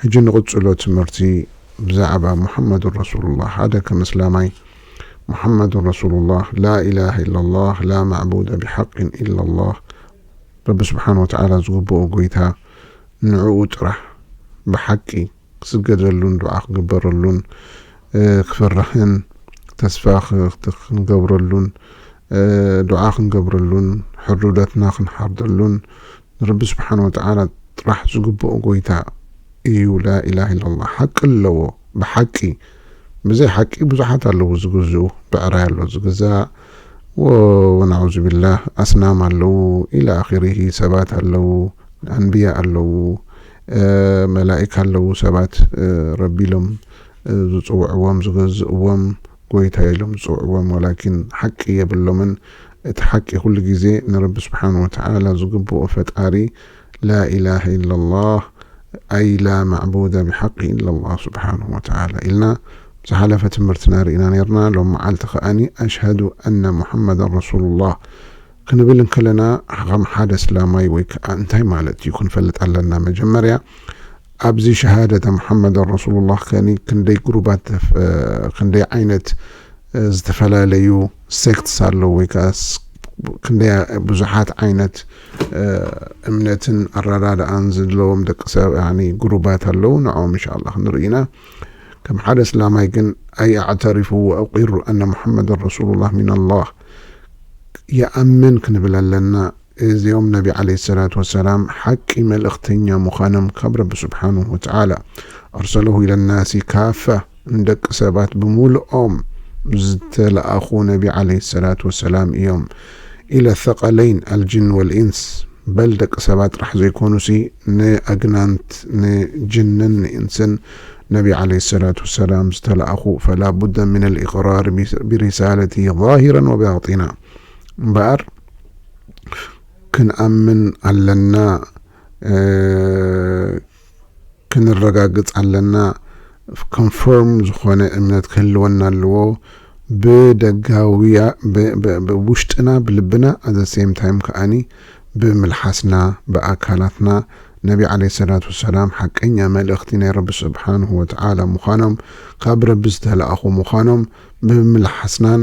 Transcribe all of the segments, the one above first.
ሕጂ ንቕጽሎ ትምህርቲ ብዛዕባ ሙሓመዱን ረሱሉላህ ሓደ ከም እስላማይ ሙሓመዱን ረሱሉላህ ላኢላሃ ኢላላህ ላ ማዕቡደ ቢሓቂን ኢላላህ ረቢ ስብሓን ወተዓላ ዝግብኦ ጎይታ ንዕኡ ጥራሕ ብሓቂ ክስገደሉን ዱዓ ክግበረሉን ክፍራህን ተስፋ ክንገብረሉን ዱዓ ክንገብረሉን ሕርዱደትና ክንሓርደሉን ንረቢ ስብሓን ወተዓላ ጥራሕ ዝግብኦ ጎይታ ኢዩ ላኢላህ ኢላላህ ሓቂ ኣለዎ ብሓቂ ብዘይ ሓቂ ብዙሓት ኣለዉ ዝግዝኡ ብዕራይ ኣሎ ዝግዛእ ወናዑዙቢላህ ኣስናም ኣለዉ ኢላ ኣኺሪሂ ሰባት ኣለዉ ኣንብያ ኣለዉ መላኢካ ኣለዉ ሰባት ረቢ ኢሎም ዝፅውዕዎም ዝገዝእዎም ጎይታ ኢሎም ዝጽውዕዎም ወላኪን ሓቂ የብሎምን እቲ ሓቂ ኩሉ ግዜ ንረቢ ስብሓን ወተዓላ ዝግብኦ ፈጣሪ ላኢላሀ ኢለላህ ኣይ ላ ማዕቡደ ብሓቂ ኢለላህ ስብሓነሁ ወተዓላ ኢልና ዝሓለፈ ትምህርትና ሪእና ኔርና ሎም መዓልቲ ከኣኒ ኣሽሀዱ ኣነ ሙሓመደን ረሱሉላህ ክንብል እንከለና ኸም ሓደ ኣስላማይ ወይ ከኣ እንታይ ማለት እዩ ክንፈልጥ ኣለና መጀመርያ ኣብዚ ሸሃደተ መሓመደን ረሱሉላህ ከኒ ክንደይ ግሩባት ክንደይ ዓይነት ዝተፈላለዩ ሴክትስ ኣለዉ ወይ ከኣ ክንደይ ብዙሓት ዓይነት እምነትን ኣረዳድኣን ዘለዎም ደቂ ሰብ ግሩባት ኣለዉ ንዕኦም እንሻላ ክንርኢ ኢና ከም ሓደ እስላማይ ግን ኣይ ኣዕተሪፉ ወኣቂሩ ኣነ ሙሓመድን ረሱሉላህ ሚን ኣላህ ይኣምን ክንብል ኣለና እዚኦም ነቢ ዓለይሂ ሰላቱ ወሰላም ሓቂ መልእኽተኛ ምዃኖም ካብ ረቢ ሱብሓነሁ ወተዓላ፣ ኣርሰለሁ ኢለ ናሲ ካፈህ፣ ንደቂ ሰባት ብምሉኦም ዝተለኣኹ ነቢ ዓለይሂ ሰላቱ ወሰላም ኢዮም። ኢለ ሰቀለይን፣ ኣልጅን ወልኢንስ፣ በል ደቂ ሰባት ጥራሕ ዘይኮኑሲ ንኣግናንት፣ ንጅንን ንኢንስን ነቢ ዓለይሂ ሰላቱ ወሰላም ዝተለኣኹ፣ ፈላ ቡደ ሚነል ኢቅራር ቢሪሳለቲሂ ዛሂረን ወባጢና እምበኣር፣ ክንኣምን ኣለና ክንረጋግጽ ኣለና ኮንፎርም ዝኾነ እምነት ክህልወና ኣለዎ ብደጋውያ ብውሽጥና ብልብና ኣዘ ሴም ታይም ከኣኒ ብምልሓስና ብኣካላትና ነቢ ዓለ ሰላት ወሰላም ሓቀኛ መልእኽቲ ናይ ረቢ ስብሓንሁ ወተዓላ ምዃኖም ካብ ረቢ ዝተላእኹ ምዃኖም ብምልሓስናን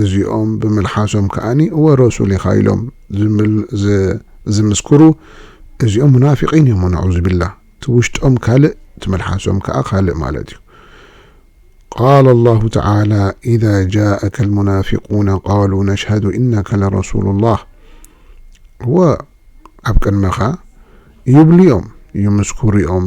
እዚኦም ብምልሓሶም ከኣ እወ ረሱል ኢኻ ኢሎም ዝምስክሩ እዚኦም ሙናፊቒን እዮም ወነዑዙቢላህ እቲ ውሽጦም ካልእ እቲ መልሓሶም ከኣ ካልእ ማለት እዩ ቃለ ላሁ ተዓላ ኢዛ ጃኣከ ልሙናፊቁነ ቃሉ ነሽሀዱ ኢነከ ለረሱሉ ላህ እወ ኣብ ቅድመኻ ይብሉ እዮም ይምስክሩ እዮም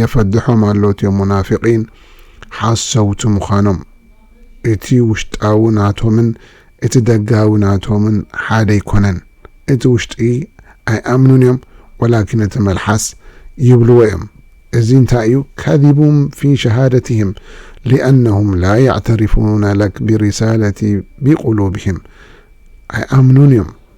የፈድሖም ኣሎ እትም ሙናፊቂን ሓሰውቲ ምዃኖም። እቲ ውሽጣዊ ናቶምን እቲ ደጋዊ ናቶምን ሓደ ኣይኮነን እቲ ውሽጢ ኣይኣምኑን እዮም ወላኪን እቲ መልሓስ ይብልዎ እዮም እዚ እንታይ እዩ ካዚቡም ፊ ሸሃደቲህም ሊኣነሁም ላ የዕተሪፉነ ለክ ቢሪሳለቲ ቢቁሉብሂም ኣይኣምኑን እዮም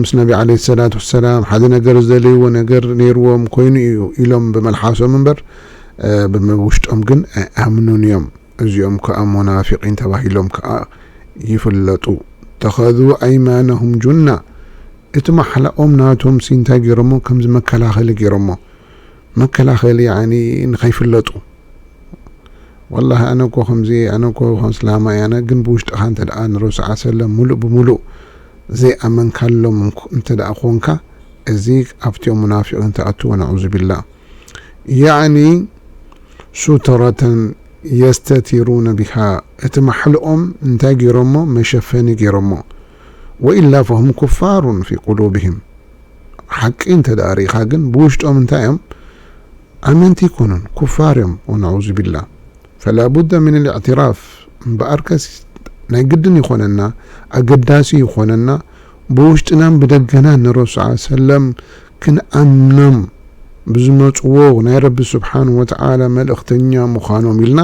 ምስ ነቢ ዓለይሂ ሰላት ወሰላም ሓደ ነገር ዝደለይዎ ነገር ነይርዎም ኮይኑ ኢዩ ኢሎም ብመልሓሶም እምበር ብምውሽጦም ግን ኣይኣምኑን ኢዮም እዚኦም ከኣ ሞናፊቒን ተባሂሎም ከኣ ይፍለጡ ተኸዙ ኣይማነሁም ጁና እቲ ማሕላኦም ናቶምሲ እንታይ ገይሮሞ ከምዚ መከላኸሊ ገይሮሞ መከላኸሊ ያዕኒ ንኸይፍለጡ ወላሂ ኣነ እኮ ከምዚ እየ ኣነ እኮ እስላማ እየ ኣነ ግን ብውሽጥኻ እንተ ንረሱል ሰለላሁ ዐለይሂ ወሰለም ሙሉእ ብሙሉእ ዘይኣመንካሎም እንተ ኮንካ እዚ ኣብቲኦም ሙናፊቒን ትኣቱ ወነዑዙቢላህ ያዕኒ ሱተረተን የስተቲሩነ ቢሃ እቲ ማሕልኦም እንታይ ገይሮሞ መሸፈኒ ገይሮሞ ወኢላ ፈሁም ኩፋሩን ፊ ቁሉብሂም ሓቂ እንተ ርኢኻ ግን ብውሽጦም እንታይ እዮም ኣመንቲ ኣይኮኑን ኩፋር እዮም ወነዑዙቢላ ፈላቡደ ሚነል እዕትራፍ እምበኣርከስ ናይ ግድን ይኾነና ኣገዳሲ ይኾነና ብውሽጥናን ብደገናን ንረሱል ዓል ሰለም ክንኣምኖም ብዝመጽዎ ናይ ረቢ ስብሓን ወተዓላ መልእኽተኛ ምዃኖም ኢልና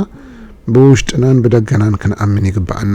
ብውሽጥናን ብደገናን ክንኣምን ይግበኣና።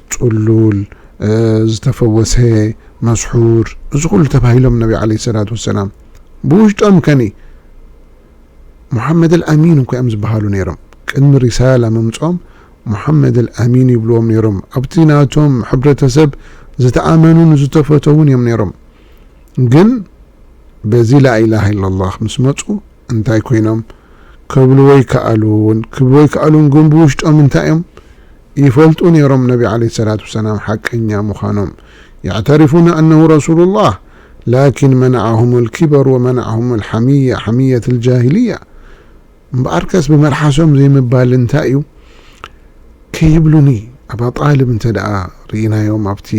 ጽሉል፣ ዝተፈወሰ፣ መስሑር፣ እዚ ኩሉ ተባሂሎም ነቢ ዓለይሂ ሰላቱ ወሰላም። ብውሽጦም ከኒ ሙሓመደል ኣሚን እኳ እዮም ዝበሃሉ ነይሮም። ቅድሚ ሪሳላ ምምጽኦም ሙሓመደል ኣሚን ይብልዎም ነይሮም። ኣብቲ ናቶም ሕብረተሰብ ዝተኣመኑን ዝተፈተዉን እዮም ነይሮም። ግን በዚ ላኢላሃ ኢለላህ ምስ መጹ እንታይ ኮይኖም ከብልዎ ይከኣሉን ክብልዎ ይከኣሉን ግን ብውሽጦም እንታይ እዮም ይፈልጡ ነይሮም ነቢ ዓለይሂ ሰላቱ ወሰላም ሓቀኛ ምዃኖም የዕተሪፉነ ኣነሁ ረሱሉላህ ላኪን መነዐሁሙል ኪበር ወመነዐሁሙል ሐሚያ ሐሚየትል ጃሂልያ እምበኣርከስ ብመልሓሶም ዘይምባል እንታይ እዩ ከይብሉኒ ኣባ ጣልብ እንተድኣ ርኢናዮም ኣብቲ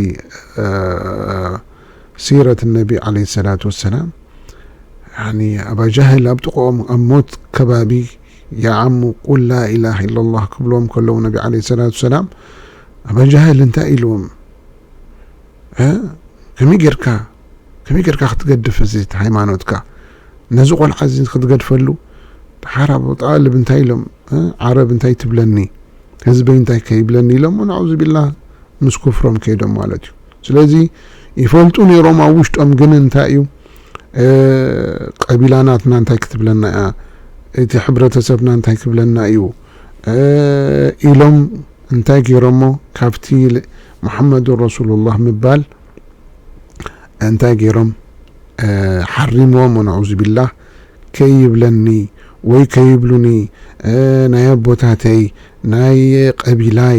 ሲረት ነቢ ዓለይሂ ሰላቱ ወሰላም ያኒ ኣባ ጃህል ኣብ ጥቕኦም ኣብ ሞት ከባቢ ያዓሙ ቁል ላኢላህ ኢላላህ ክብልዎም ከለዉ ነቢ ዓለይሂ ሰላቱ ወሰላም ኣባ ጃህል እንታይ ኢልዎም እ ከመይ ጌርካ ከመይ ጌርካ ክትገድፍ እዚ እቲ ሃይማኖትካ ነዚ ቆልዓ እዚ ክትገድፈሉ ደሓር ኣብ ጣልብ እንታይ ኢሎም እ ዓረብ እንታይ ትብለኒ ህዝበይ እንታይ ከይብለኒ ኢሎሞ ናዑዙቢላህ ምስ ኩፍሮም ከይዶም ማለት እዩ ስለዚ ይፈልጡ ኔሮም ኣብ ውሽጦም ግን እንታይ እዩ ቀቢላ ናትና እንታይ ክትብለና እያ እቲ ሕብረተሰብና እንታይ ክብለና እዩ ኢሎም እንታይ ጌሮሞ ካብቲ ሙሐመዱን ረሱሉላህ ምባል እንታይ ጌሮም ሓሪምዎም ወነዑዙቢላህ ከይብለኒ ወይ ከይብሉኒ ናይ ኣቦታተይ ናይ ቀቢላይ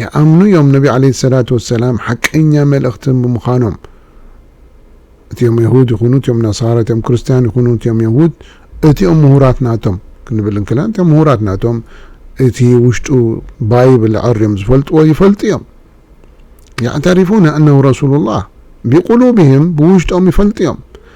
ይኣምኑ እዮም ነቢ ዓለይሂ ሰላቱ ወሰላም ሓቀኛ መልእኽቲ ብምዃኖም እቲኦም የሁድ ይኹኑ እቲኦም ነሳራ እቲኦም ክርስትያን ይኹኑ እቲኦም የሁድ እቲኦም ምሁራት ናቶም ክንብል እንክላ እቲኦም ምሁራት ናቶም እቲ ውሽጡ ባይብል ዕርዮም ዝፈልጥዎ ይፈልጡ እዮም ያዕተሪፉነ እነሁ ረሱሉላህ ቢቁሉብህም ብውሽጦም ይፈልጡ እዮም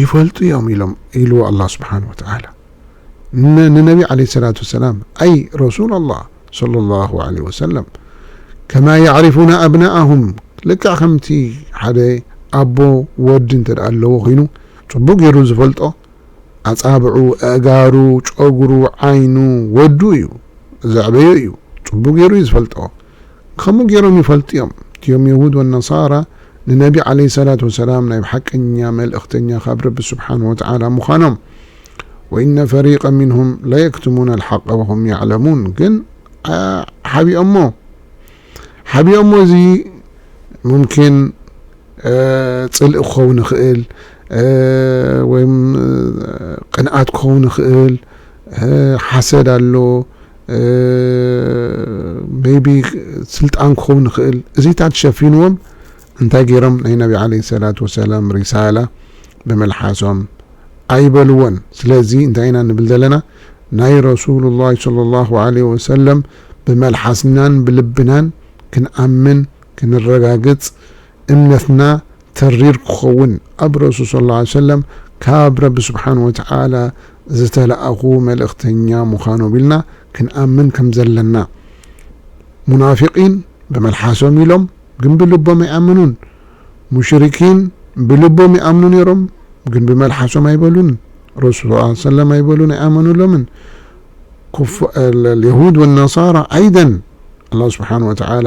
ይፈልጡ እዮም ኢሎም ኢልዎ ኣላህ ስብሓነሁ ወተዓላ ንነቢ ዓለይሂ ሰላቱ ወሰላም ኣይ ረሱለላህ ሰለላሁ ዓለይሂ ወሰለም ከማ የዕሪፉነ ኣብናኣሁም ልክዕ ከምቲ ሓደ ኣቦ ወዲ እንተድኣ ኣለዎ ኮይኑ ፅቡቕ ገይሩ ዝፈልጦ ኣፃብዑ ኣእጋሩ ጨጉሩ ዓይኑ ወዱ እዩ ዘዕበዮ እዩ ፅቡቕ ገይሩ እዩ ዝፈልጦ ከምኡ ጌሮም ይፈልጡዮም እቲዮም የሁድ ወነሳራ ንነቢ ዓለይሂ ሰላት ወሰላም ናይ ብሓቀኛ መልእኽተኛ ካብ ረቢ ሱብሓነሁ ወተዓላ ምዃኖም ወኢነ ፈሪቀን ሚንሁም ለየክትሙነ ኣልሓቀ ወሁም የዕለሙን ግን ሓቢኦሞ ሓቢኦሞ እዚ ሙምኪን ጽልኢ ክኸውን ይኽእል ወይም ቅንኣት ክኸውን ይኽእል ሓሰድ ኣሎ ሜይቢ ስልጣን ክኸውን ይኽእል እዚታት ሸፊንዎም እንታይ ገይሮም ናይ ነቢ ዓለይሂ ሰላቱ ወሰላም ሪሳላ ብምልሓሶም ኣይበልዎን ስለዚ እንታይ ኢና ንብል ዘለና ናይ ረሱሉላህ ሰለላሁ ዓለይሂ ወሰለም ብመልሓስናን ብልብናን ክንኣምን ክንረጋግጽ እምነትና ተሪር ክኸውን ኣብ ረሱል ሰለላሁ ዓለይሂ ወሰለም ካብ ረቢ ሱብሓነሁ ወተዓላ ዝተለኣኹ መልእኽተኛ ምዃኖም ኢልና ክንኣምን ከም ዘለና። ሙናፊቒን ብመልሓሶም ኢሎም ግን ብልቦም ኣይኣመኑን። ሙሽሪኪን ብልቦም ይኣምኑ ነይሮም ግን ብመልሓሶም ኣይበሉን። ረሱል ሰለላሁ ዓለይሂ ወሰለም ኣይበሉን ኣይኣመኑሎምን። ኩፋ የሁድ ወነሳራ ዓይደን ኣላህ ሱብሓነሁ ወተዓላ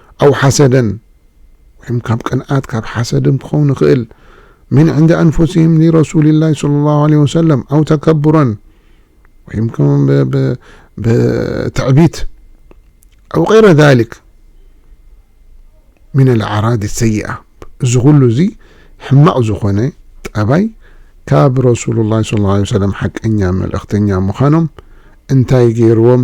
ኣው ሓሰደን ወይም ካብ ቅንኣት ካብ ሓሰድም ክኸውን ይኽእል፣ ምን ዕንደ ኣንፉሲሂም ሊረሱሊላሂ ሰለላሁ ዓለይሂ ወሰለም ኣው ተከቡረን ወይም ከመ ብትዕቢት ኣው ገይረ ዛሊክ ሚነል ኣዕራድ ሰይኣ እዚ ኩሉ እዚ ሕማቕ ዝኾነ ጠባይ ካብ ረሱሉላሂ ሰለላሁ ዓለይሂ ወሰለም ሓቀኛ መልእኽተኛ ምዃኖም እንታይ ገይርዎም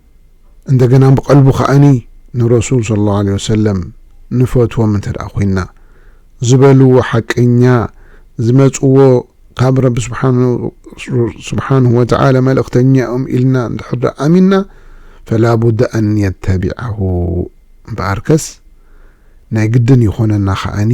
እንደገና ብቀልቡ ከኣኒ ንረሱል ሰለላሁ ዓለይሂ ወሰለም ንፈትዎም እንተደኣ ኮይንና ዝበልዎ ሓቀኛ ዝመጽዎ ካብ ረቢ ስብሓነሁ ወተዓላ መልእኽተኛ እዮም ኢልና እንድሕር ደኣ ኣሚንና ፈላቡደ ኣን ነተቢዐሁ እምበኣርከስ ናይ ግድን ይኾነና ከኣኒ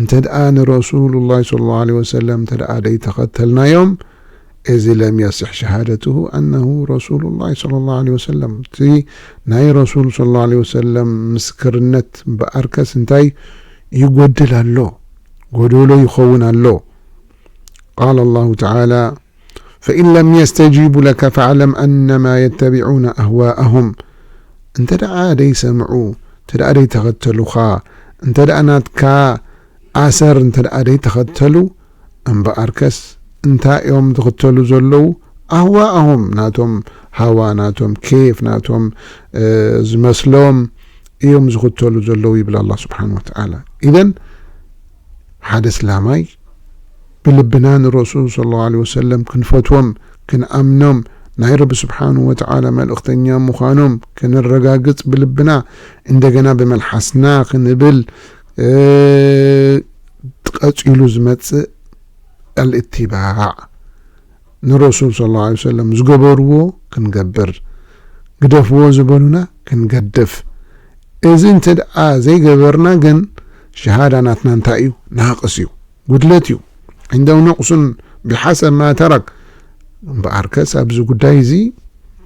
እንተድኣ ንረሱሉላህ ሰለላሁ ዓለይሂ ወሰለም እንተድኣ ዘይተኸተልናዮም እዚ ለም የስሕ ሸሃደቱሁ ኣነሁ ረሱሉላህ ሰለላሁ ዓለይሂ ወሰለም እቲ ናይ ረሱል ሰለላሁ ዓለይሂ ወሰለም ምስክርነት እምበኣርከስ እንታይ ይጎድል ኣሎ ጎዶሎ ይኸውን ኣሎ ቃለ ላሁ ተዓላ ፈኢን ለም የስተጂቡ ለከ ፈዕለም ኣነማ የተቢዑነ ኣህዋኣሁም እንተ ደኣ ደይሰምዑ እንተ ደኣ ደይተኸተሉኻ እንተ ደኣ ናትካ ኣሰር እንተ ደኣ ደይተኸተሉ እምበኣርከስ እንታይ እዮም ዝኽተሉ ዘለዉ ኣህዋኣሁም ናቶም ሃዋ ናቶም ኬፍ ናቶም ዝመስሎም እዮም ዝኽተሉ ዘለዉ ይብል ኣላህ ስብሓነሁ ወተዓላ ኢዘን ሓደ እስላማይ ብልብና ንረሱል ሰለላሁ ዓለይሂ ወሰለም ክንፈትዎም ክንኣምኖም ናይ ረቢ ሱብሓነሁ ወተዓላ መልእኽተኛ ምዃኖም ከነረጋግጽ ብልብና እንደገና ብመልሓስና ክንብል ቐጺሉ ዝመጽእ ኣልእትባዕ ንረሱል ሰለላሁ ዓለይሂ ወሰለም ዝገበርዎ ክንገብር ግደፍዎ ዝበሉና ክንገድፍ እዚ እንተድኣ ዘይገበርና ግን ሸሃዳ ናትና እንታይ እዩ ናቅስ እዩ ጉድለት እዩ ዒንደሁ ነቅሱን ቢሓሰብ ማ ተረክ እምበኣርከስ ኣብዚ ጉዳይ እዚ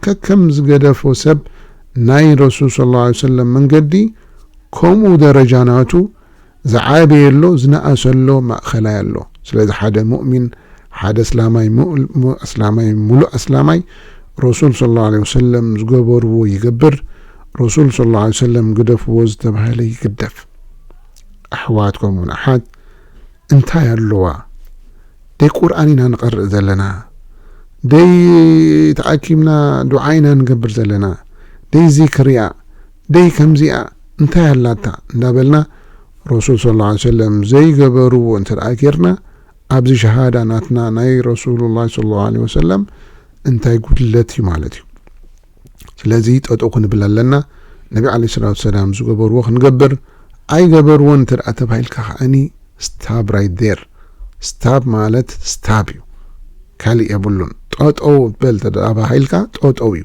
ከከም ዝገደፎ ሰብ ናይ ረሱል ሰለላሁ ዓለይሂ ወሰለም መንገዲ ከምኡ ደረጃ ናቱ ዝዓበየ ኣሎ ዝነኣሰ ኣሎ ማእኸላይ ኣሎ ስለዚ ሓደ ሙእሚን ሓደ ኣስላማይ ሙእልም ኣስላማይ ሙሉእ ኣስላማይ ረሱል ሰለላሁ ዓለይሂ ወሰለም ዝገበርዎ ይገብር ረሱል ሰለላሁ ዓለይሂ ወሰለም ግደፍዎ ዝተባህለ ይግደፍ ኣሕዋት ከምኡ ውን ኣሓት እንታይ ኣለዋ ደይ ቁርኣን ኢና ንቐርእ ዘለና ደይ ተኣኪብና ዱዓ ኢና ንገብር ዘለና ደይ ዚክርያ ደይ ከምዚኣ እንታይ ኣላታ እንዳበልና ረሱል ሰለላሁ ዓለይሂ ወሰለም ዘይገበርዎ እንተደኣ ጌርና ኣብዚ ሸሃዳ ናትና ናይ ረሱሉላህ ሰለላሁ ዓለይሂ ወሰለም እንታይ ጉድለት እዩ ማለት እዩ ስለዚ ጠጠው ክንብል ኣለና ነቢ ዓለይሂ ሰላቱ ወሰላም ዝገበርዎ ክንገብር ኣይገበርዎን እንተደኣ ተባሂልካ ከዓኒ ስታብ ራይት ዴር ስታብ ማለት ስታብ እዩ ካልእ የብሉን ጠጠው በል ተደኣ ተባሂልካ ጠጠው እዩ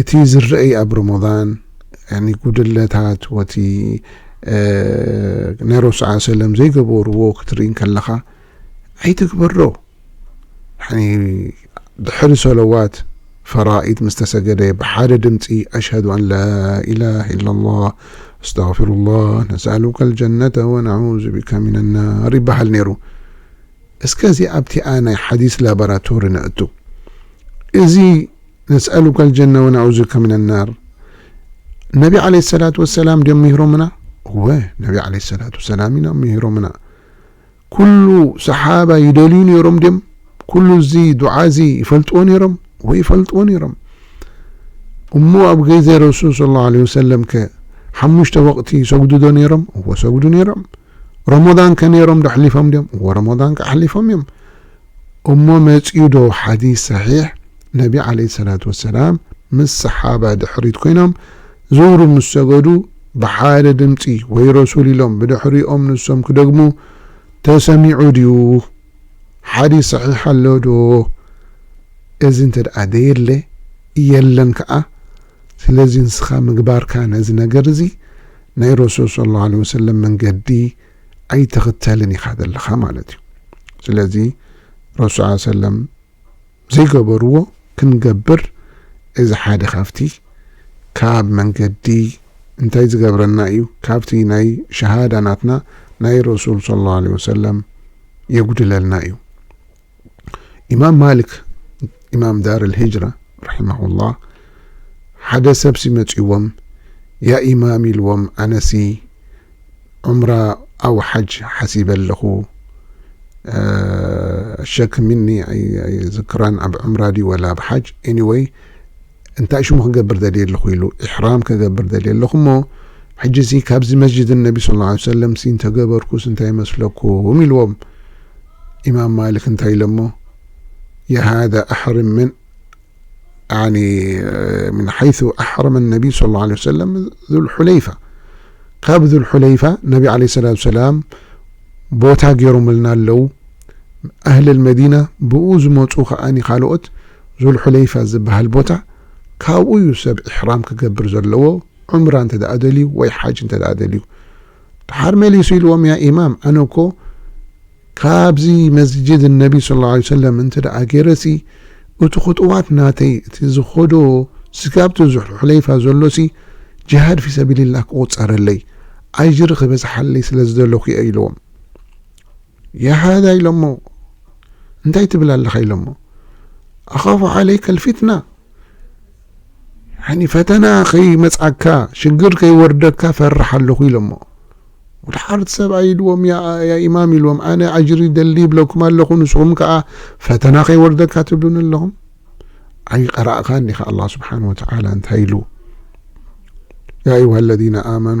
እቲ ዝረእይ ኣብ ሮሞዳን ያኒ ጉድለታት ወቲ ናይ ረሱል ሰለላሁ ዓለይሂ ወሰለም ዘይገበርዎ ክትርኢ እንከለኻ ኣይትግበሮ ያኒ ድሕሪ ሰለዋት ፈራኢድ ምስ ተሰገደ ብሓደ ድምጺ ኣሽሀዱ ኣን ላኢላሃ ኢለላህ ኣስተግፊሩላህ ነስኣሉከል ጀነተ ወነዑዙ ቢከ ሚነናር ይበሃል ነይሩ። እስከዚ ኣብቲኣ ናይ ሓዲስ ላቦራቶሪ ነእቱ እዚ ነስኣሉከ ኣልጀነ ወነዑዙ ከ ምነ ናር ነቢ ዓለይሂ ሰላቱ ወሰላም ድዮም ምሂሮምና? እወ ነቢ ዓለይሂ ሰላቱ ወሰላም ኢና ምሂሮምና። ኩሉ ሰሓባ ይደልዩ ነይሮም ድዮም? ኩሉ እዚ ዱዓ እዚ ይፈልጥዎ ነይሮም? እወ ይፈልጥዎ ነይሮም። እሞ ኣብ ግዜ ረሱል ሰለላሁ ዓለይሂ ወሰለም ከ ሓሙሽተ ወቕቲ ይሰግዱ ዶ ነይሮም? እወ ሰግዱ ነይሮም። ረመዳን ከ ነይሮም ዶ ኣሕሊፎም ድዮም? እወ ረመዳን ከ ኣሕሊፎም እዮም። እሞ መጽዩ ዶ ሓዲስ ሰሒሕ ነቢ ዓለይሂ ሰላቱ ወሰላም ምስ ሰሓባ ድሕሪት ኮይኖም ዙህሪ ምስ ሰገዱ ብሓደ ድምጺ ወይ ረሱል ኢሎም ብድሕሪኦም ንሶም ክደግሙ ተሰሚዑ ድዩ ሓዲስ ሰሒሕ ኣሎ ዶ እዚ እንተ ደየለ የለን ከኣ ስለዚ ንስኻ ምግባርካ ነዚ ነገር እዚ ናይ ረሱል ሰለላሁ ዓለይሂ ወሰለም መንገዲ ኣይትኽተልን ኢኻ ዘለኻ ማለት እዩ ስለዚ ረሱል ስ ሰለም ዘይገበርዎ ክንገብር እዚ ሓደ ካብቲ ካብ መንገዲ እንታይ ዝገብረና እዩ ካብቲ ናይ ሸሃዳ ናትና ናይ ረሱል صለ ላه ለ ወሰለም የጉድለልና እዩ ኢማም ማልክ ኢማም ዳር ልሂጅራ ራሒማሁላህ ሓደ ሰብሲ መጺእዎም ያ ኢማም ኢልዎም ኣነሲ ዑምራ ኣው ሓጅ ሓሲበ ኣለኹ ሸክ ሚኒ ኣይዝክራን ኣብ ዑምራ ድዩ ወላ ኣብ ሓጅ ኤኒወይ እንታይ ሽሙ ክገብር ደልየ ኣለኹ ኢሉ ኢሕራም ክገብር ደልየ ኣለኹ እሞ ሕጂ እዚ ካብዚ መስጅድ ነቢ ስ ሰለም ሲ እንተገበርኩስ እንታይ ይመስለኩም ኢልዎም ኢማም ማሊክ እንታይ ኢሎሞ የሃደ ኣሕርም ምን ምን ሓይث ኣሕረመ ነቢይ صለ ላه ለ ሰለም ዙልሑለይፋ ካብ ዙልሑለይፋ ነቢ ዓለ ሰላት ሰላም ቦታ ገይሮምልና ኣለው ኣህል መዲና ብኡ ዝመፁ ከዓኒ ካልኦት ዙልሑለይፋ ዝበሃል ቦታ ካብኡ እዩ ሰብ ኢሕራም ክገብር ዘለዎ ዑምራ እንተ ደኣ ደልዩ ወይ ሓጅ እንተ ደኣ ደልዩ ድሓር መሊሱ ኢልዎም ያ ኢማም ኣነ እኮ ካብዚ መስጂድ ኣነቢ ሰለላሁ ዓለይሂ ወሰለም እንተድኣ ገይረሲ እቱ ኹጡዋት ናተይ እቲ ዝኸዶ ስጋብቲ ዙልሑለይፋ ዘሎሲ ጅሃድ ፊ ሰቢሊላህ ክቑፀረለይ ኣጅሪ ክበዝሓለይ ስለዝደለኹ እየ ኢልዎም የሃዳ ኢሎሞ እንታይ ትብል ኣለኻ ኢሎሞ ኣኻፉ ዓለይከ ልፊትና ፈተና ከይመፅኣካ ሽግር ከይወርደካ ፈርሕ ኣለኹ ኢሎሞ ወዲ ሓርቲ ሰብኣይ ኢልዎም ያ ኢማም ኢልዎም ኣነ ኣጅሪ ደሊ ይብለኩም ኣለኹ ንስኹም ከዓ ፈተና ከይወርደካ ትብሉን ኣለኹም ኣይቀራእኻን ዲኻ ኣላ ስብሓን ወተዓላ እንታይ ኢሉ ያ ኣዩሃ ለዚነ ኣመኑ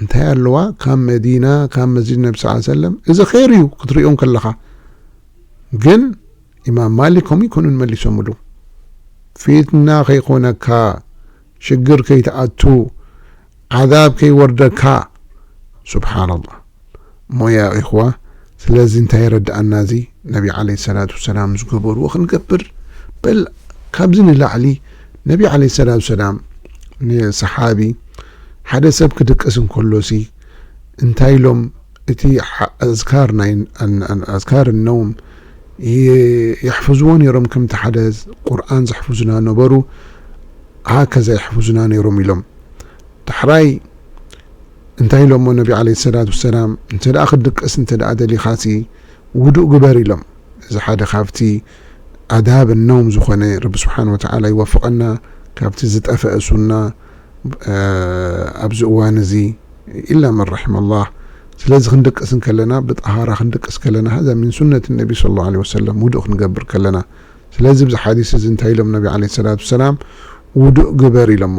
እንታይ ኣለዋ ካብ መዲና ካብ መስጂድ ነቢ ስ ሰለም እዚ ኼር እዩ ክትሪኦ እንከለኻ ግን ኢማም ማሊክ ከምኡ ይኮኑን መሊሶምሉ ፊትና ከይኮነካ ሽግር ከይትኣቱ ዓዛብ ከይወርደካ ስብሓንላህ እሞ ያ ኢኽዋ ስለዚ እንታይ የረድኣና እዚ ነቢ ዓለይሂ ሰላቱ ወሰላም ዝገበርዎ ክንገብር በል ካብዚ ንላዕሊ ነቢ ዓለይሂ ሰላቱ ወሰላም ንሰሓቢ ሓደ ሰብ ክድቅስ እንከሎሲ እንታይ ኢሎም እቲ ኣዝካር ናይ ኣዝካር ነውም የሕፍዝዎ ነይሮም ከምቲ ሓደ ቁርኣን ዘሕፍዙና ነበሩ ሃከዛ የሕፍዙና ነይሮም ኢሎም ዳሕራይ እንታይ ኢሎሞ ነቢ ዓለይሂ ሰላት ወሰላም እንተደኣ ክትድቅስ እንተደኣ ደሊኻሲ ውዱእ ግበር ኢሎም እዚ ሓደ ካብቲ ኣዳብ ነውም ዝኾነ ረቢ ስብሓን ወተዓላ ይወፍቐና ካብቲ ዝጠፈኣ ሱና ኣብዚ እዋን እዚ ኢላ መን ረሒመ ላህ ስለዚ ክንድቅስ ከለና ብጠሃራ ክንድቅስ ከለና ሃዛ ሚን ሱነት ነቢ ስለ ላሁ ዓለይሂ ወሰለም ውዱእ ክንገብር ከለና ስለዚ ብዚ ሓዲስ እዚ እንታይ ኢሎም ነቢ ዓለይሂ ሰላት ወሰላም ውዱእ ግበር ኢሎሞ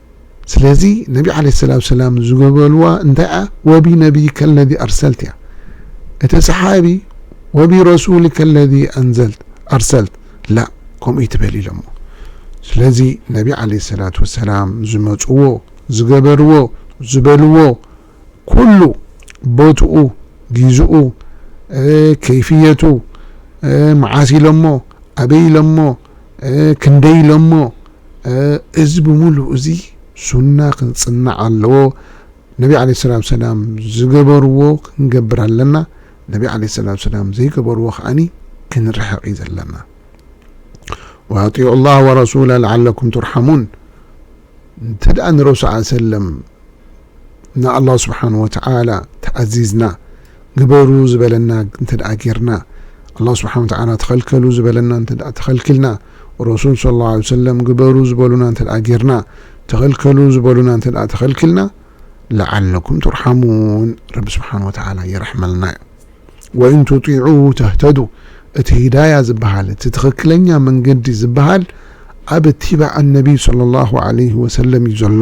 ስለዚ ነቢ ዓለይሂ ሰላቱ ወሰላም ዝገበልዋ እንታይ እያ? ወቢ ነቢይከ ኣለዚ ኣርሰልት እያ። እቲ ሰሓቢ ወቢ ረሱልከ ኣለዚ ኣንዘልት፣ ኣርሰልት፣ ላእ ከምኡ ኣይትበል ኢሎሞ። ስለዚ ነቢ ዓለይሂ ሰላቱ ወሰላም ዝመጽዎ፣ ዝገበርዎ፣ ዝበልዎ፣ ኩሉ ቦትኡ ጊዝኡ ከይፍየቱ መዓስ ኢሎሞ ኣበይ ኢሎሞ ክንደይ ኢሎሞ እዚ ብምሉኡ እዚ ሱና ክንጽናዕ ኣለዎ ነቢ ዓለይሂ ሰላቱ ወሰላም ዝገበርዎ ክንገብር ኣለና ነቢ ዓለይሂ ሰላቱ ወሰላም ዘይገበርዎ ከኣኒ ክንርሕቕ እዩ ዘለና ወኣጢዑ ላህ ወረሱላ ለዓለኩም ቱርሓሙን እንተ ደኣ ንረሱል ሰለም ንኣላህ ስብሓነሁ ወተዓላ ተኣዚዝና ግበሩ ዝበለና እንተድኣ ጌርና፣ ኣላህ ስብሓነሁ ወተዓላ ተኸልከሉ ዝበለና እንተድኣ ተኸልኪልና፣ ረሱል ሰለላሁ ዓለይሂ ወሰለም ግበሩ ዝበሉና እንተድኣ ጌርና፣ ተኸልከሉ ዝበሉና እንተድኣ ተኸልኪልና፣ ለዓለኩም ቱርሓሙን፣ ረቢ ስብሓነሁ ወተዓላ ይርሕመልና እዩ። ወኢን ቱጢዑሁ ተህተዱ፣ እቲ ሂዳያ ዝበሃል፣ እቲ ትኽክለኛ መንገዲ ዝበሃል ኣብ እትባዕ ኣነቢይ ሰለላሁ ዓለይሂ ወሰለም እዩ ዘሎ።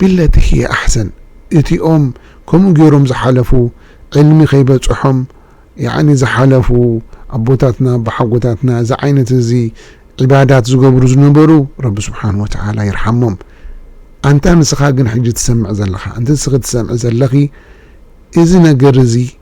ቢለቲ ህየ ኣሕሰን እቲኦም ከምኡ ገይሮም ዝሓለፉ ዕልሚ ከይበጸሖም ያኒ ዝሓለፉ ኣቦታትና ኣቦሓጎታትና እዚ ዓይነት እዚ ዒባዳት ዝገብሩ ዝነበሩ ረቢ ስብሓን ወተዓላ ይርሓሞም ኣንታ ንስኻ ግን ሕጂ ትሰምዕ ዘለኻ ኣንቲ ንስኺ ትሰምዒ ዘለኺ እዚ ነገር እዚ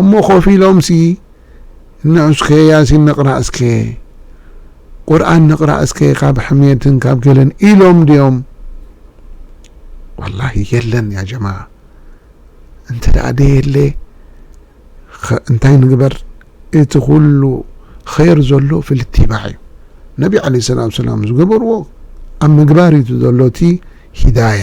እሞ ኮፍ ኢሎምሲ ንዑስከ ያሲን ንቕራእ እስከ፣ ቁርኣን ንቕራእ እስከ ካብ ሕምየትን ካብ ገለን ኢሎም ድዮም? ዋላሂ የለን ያ ጀማዓ እንተ ደየለ ኸ እንታይ ንግበር እቲ ኩሉ ኸይር ዘሎ ፊል እትባዕ እዩ ነቢ ዓለይሂ ሰላቱ ወሰላም ዝገበርዎ ኣብ ምግባር እዩ ዘሎ እቲ ሂዳያ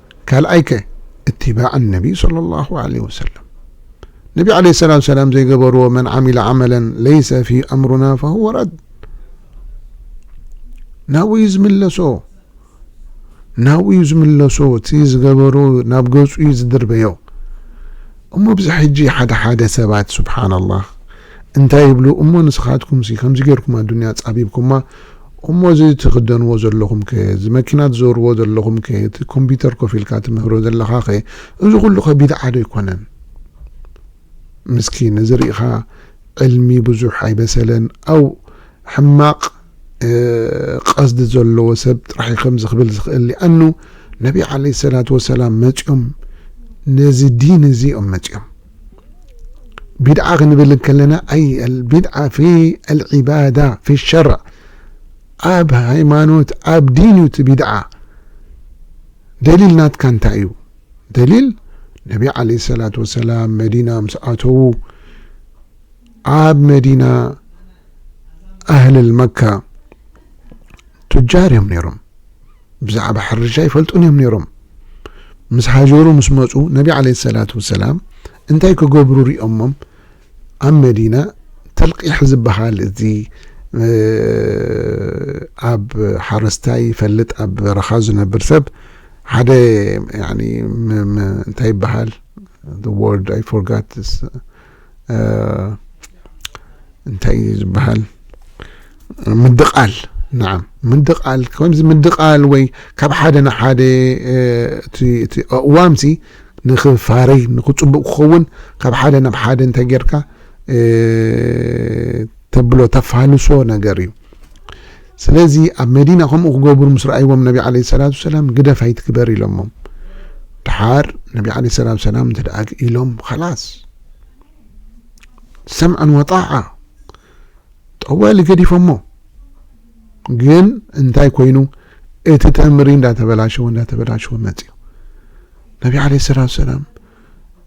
ካልኣይ ከ እትባዕ ኣነቢ ሶለሏሁ ዓለይሂ ወሰለም ነቢ ዓለይሂ ሰላቱ ወሰላም ዘይገበርዎ መን ዓሚለ ዓመለን ለይሰ ፊህ ኣምሩና ፈሁወ ረድ ናብኡ እዩ ዝምለሶ ናብኡ እዩ ዝምለሶ እቲ ዝገበሮ ናብ ገጹ እዩ ዝድርበዮ እሞ ብዚ ሕጂ ሓደ ሓደ ሰባት ስብሓንላህ እንታይ ይብሉ እሞ ንስኻትኩምሲ ከምዚ ጌርኩም ኣዱንያ ኣጻቢብኩማ እሞ እዚ ትኽደንዎ ዘለኹምከ እዚ መኪና ትዞርዎ ዘለኹምከ እቲ ኮምፒተር ኮፍ ኢልካ ትምህሮ ዘለኻኸ እዚ ኩሉኸ ቢድዓ ዶ ኣይኮነን ምስኪን እዚ ሪኢኻ ዕልሚ ብዙሕ ኣይበሰለን ኣው ሕማቕ ቐስዲ ዘለዎ ሰብ ጥራሕ እዩ ከምዚ ክብል ዝኽእል ሊኣኑ ነቢ ዓለይሂ ሰላቱ ወሰላም መጽዮም ነዚ ዲን እዚ እዮም መጽዮም ቢድዓ ክንብል ከለና ኣይ ቢድዓ ፊ ኣልዒባዳ ፊ ሸርዕ ኣብ ሃይማኖት ኣብ ዲን እዩ እቲ ቢድዓ ደሊል ናትካ እንታይ እዩ ደሊል ነቢ ዓለ ሰላት ወሰላም መዲና ምስ ኣተዉ ኣብ መዲና ኣህልል መካ ቱጃር እዮም ነይሮም ብዛዕባ ሕርሻ ኣይፈልጡን እዮም ነይሮም። ምስ ሃጀሩ ምስ መጹ ነቢ ዓለይሂ ሰላቱ ወሰላም እንታይ ክገብሩ ሪኦሞም ኣብ መዲና ተልቂሕ ዝበሃል እዚ ኣብ ሓረስታይ ይፈልጥ ኣብ በረኻ ዝነብር ሰብ ሓደ ያኒ እንታይ ይበሃል the word I forgot this እንታይ እዩ ዝበሃል ምድቓል ንዓም ምድቓል ከምዚ ምድቓል ወይ ካብ ሓደ ንሓደ እቲ ኣእዋምሲ ንክፋረይ ንክፅቡቅ ክኸውን ካብ ሓደ ናብ ሓደ እንታይ ጌርካ ተብሎ ተፋልሶ ነገር እዩ ስለዚ ኣብ መዲና ከምኡ ክገብሩ ምስ ረኣይዎም ነቢ ዓለይሂ ሰላቱ ወሰላም ግደፍ ኣይትግበር ኢሎሞም። ደሓር ነቢ ዓለይሂ ሰላቱ ወሰላም እንተደኣ ኢሎም ኸላስ ሰምዐን ወጣዓ ጠዋሊ ገዲፎሞ። ግን እንታይ ኮይኑ እቲ ተምሪ እንዳተበላሸወ እንዳተበላሸወ መጽዩ ነቢ ዓለይሂ ሰላቱ ወሰላም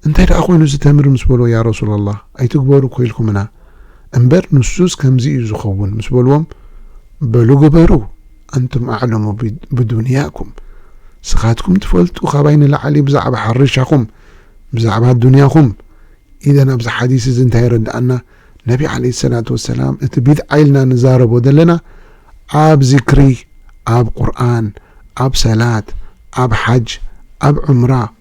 እንታይ ደኣ ኮይኑ እዚ ተምሪ ምስ በልዎ ያ ረሱለላህ ኣይትግበሩ እኮ ኢልኩምና እምበር ንሱስ ከምዚ እዩ ዝኸውን ምስ በልዎም በሉ ግበሩ ኣንቱም ኣዕለሙ ብዱንያኩም ስኻትኩም ትፈልጡ ካባይ ንላዕሊ ብዛዕባ ሕርሻኹም ብዛዕባ ዱንያኹም ኢዘን ኣብዚ ሓዲስ እዚ እንታይ የረድኣና ነቢ ዓለይሂ ሰላቱ ወሰላም እቲ ቢድዓ ኢልና ንዛረቦ ዘለና ኣብ ዚክሪ ኣብ ቁርኣን ኣብ ሰላት ኣብ ሓጅ ኣብ ዑምራ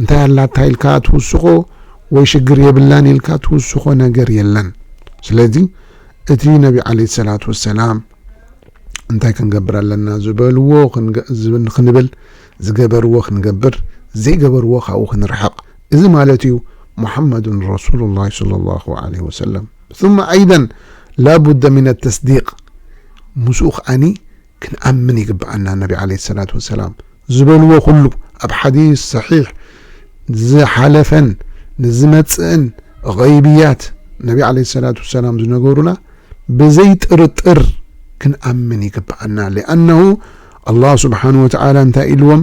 እንታይ ኣላታ ኢልካ እትውስኾ ወይ ሽግር የብላን ኢልካ እትውስኾ ነገር የለን። ስለዚ እቲ ነቢ ዓለይሂ ሰላቱ ወሰላም እንታይ ክንገብር ኣለና ዝበልዎ ክንብል፣ ዝገበርዎ ክንገብር፣ ዘይገበርዎ ካብኡ ክንርሕቕ። እዚ ማለት እዩ ሙሐመዱን ረሱሉላህ ሰለላሁ ዓለይሂ ወሰለም ሱመ ኣይደን ላቡደ ሚነ ተስዲቅ ምስኡ ከኣኒ ክንኣምን ይግብኣና ነቢ ዓለይሂ ሰላቱ ወሰላም ዝበልዎ ኩሉ ኣብ ሓዲስ ሰሒሕ ዝሓለፈን ንዝመጽእን ገይብያት ነቢ ዓለይሂ ሰላቱ ወሰላም ዝነገሩና ብዘይ ጥርጥር ክንኣምን ይግብኣና ለኣነሁ ኣላህ ስብሓነሁ ወተዓላ እንታይ ኢልዎም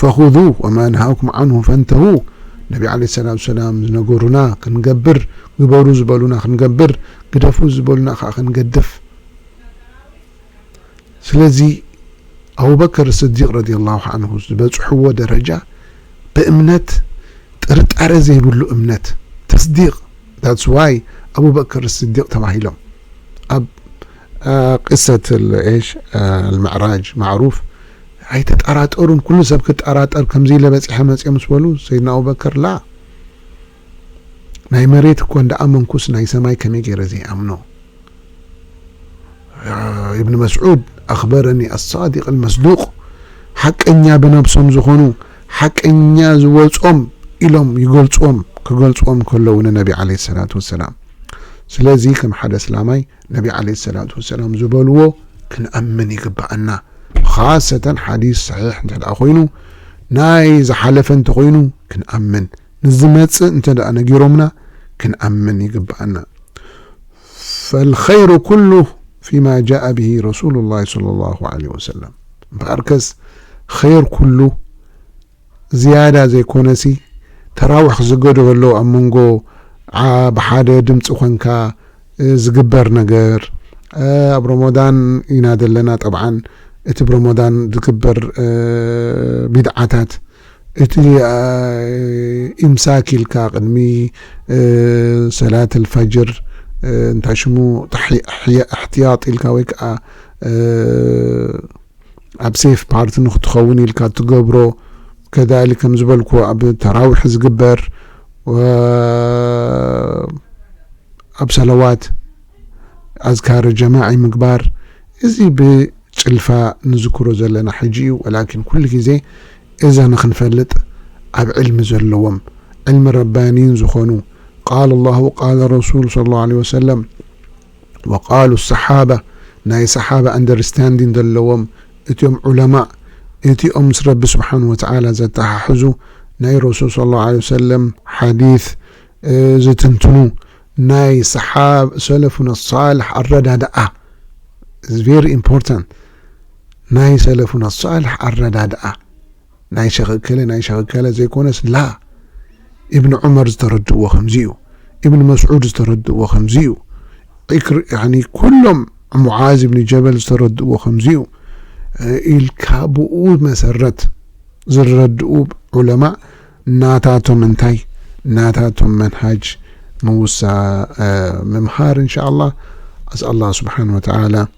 ፈኹዙ ወማ ነሃኩም ዓንሁ ፈንተሁ ነቢ ዓለይሂ ሰላቱ ወሰላም ዝነገሩና ክንገብር፣ ግበሩ ዝበሉና ክንገብር፣ ግደፉ ዝበሉና ከኣ ክንገድፍ። ስለዚ ኣቡበከር ስዲቕ ረዲየላሁ ዓንሁ ዝበጽሕዎ ደረጃ ብእምነት ጥርጣረ ዘይብሉ እምነት፣ ተስዲቕ፣ That's why ኣቡበከር ስዲቕ ተባሂሎም። ኣብ ቂሰት እሽ ኣልምዕራጅ ማዕሩፍ ኣይትጠራጠሩን ኩሉ ሰብ ክጠራጠር ከምዚለ በጺሐ መጽዮ ምስ በሉ ሰይድና ኣቡበከር ላ ናይ መሬት እኮ እንዳ ኣመንኩስ ናይ ሰማይ ከመይ ጌረ ዘይኣምኖ ኢብን መስዑድ ኣኽበረኒ ኣሳዲቅ ኣልመስዱቅ ሓቀኛ ብነብሶም ዝኾኑ ሓቀኛ ዝወጾም ኢሎም ይገልጽዎም ክገልጽዎም ከለዉ ንነቢ ዓለይሂ ሰላቱ ወሰላም ስለዚ ከም ሓደ ኣስላማይ ነቢ ዓለይሂ ሰላቱ ወሰላም ዝበልዎ ክንኣምን ይግበኣና። ኻሰተን ሓዲስ ሰሒሕ እንተድኣ ኮይኑ፣ ናይ ዝሓለፈ እንተኾይኑ ክንኣምን፣ ንዝመጽእ እንተድኣ ነጊሮምና ክንኣምን ይግበኣና። ፈልኸይሩ ኩሉ ፊማ ጃኣ ቢሂ ረሱሉላሂ ሰለላሁ ዓለይሂ ወሰለም እምበኣርከስ ኸይር ኩሉ ዝያዳ ዘይኮነሲ ተራውሕ ዝገድሆ ኣሎ ኣብ መንጎ ዓዓ ብሓደ ድምጺ ኮንካ ዝግበር ነገር ኣብ ሮሞዳን ኢና ዘለና ጠብዓን እቲ ብሮሞዳን ዝግበር ቢድዓታት እቲ ኢምሳክ ኢልካ ቅድሚ ሰላት ኣልፋጅር እንታይ ሽሙ ኣሕትያጥ ኢልካ ወይ ከኣ ኣብ ሴፍ ፓርት ንክትኸውን ኢልካ ትገብሮ ከዳሊ ከም ዝበልኩ ኣብ ተራዊሕ ዝግበር ኣብ ሰለዋት ኣዝካረ ጀማዒ ምግባር እዚ ብጭልፋ ንዝክሮ ዘለና ሕጂ እዩ ወላኪን ኩሉ ግዜ እዛ ንክንፈልጥ ኣብ ዕልሚ ዘለዎም ዕልሚ ረባኒን ዝኾኑ ቃል ኣላሁ ቃል ረሱል ሰለላሁ ዓለይሂ ወሰለም ወቃሉ ኣሰሓባ ናይ ሰሓባ ኣንደርስታንዲን ዘለዎም እትም ዑለማእ እቲኦም ምስ ረቢ ስብሓን ወተዓላ ዘተሓሕዙ ናይ ረሱል ሰለላሁ ዓለይሂ ወሰለም ሓዲት ዝትንትኑ ናይ ሰሓብ ሰለፉና ኣሳልሕ ኣረዳድኣ ቨሪ ኢምፖርታንት ናይ ሰለፉና ኣሳልሕ ኣረዳድኣ ናይ ሸኽ እከለ ናይ ሸኽ እከለ ዘይኮነስ ላ ኢብን ዑመር ዝተረድእዎ ከምዚ እዩ ኢብን መስዑድ ዝተረድእዎ ከምዚ እዩ ዒክር ያኒ ኩሎም ሙዓዝ ኢብን ጀበል ዝተረድእዎ ከምዚ እዩ ኢልካ ብኡ መሰረት ዝረድኡ ዑለማ ናታቶም እንታይ ናታቶም መንሃጅ ምውሳ ምምሃር እንሻ ኣላህ ኣስ ኣላህ ስብሓን ወተዓላ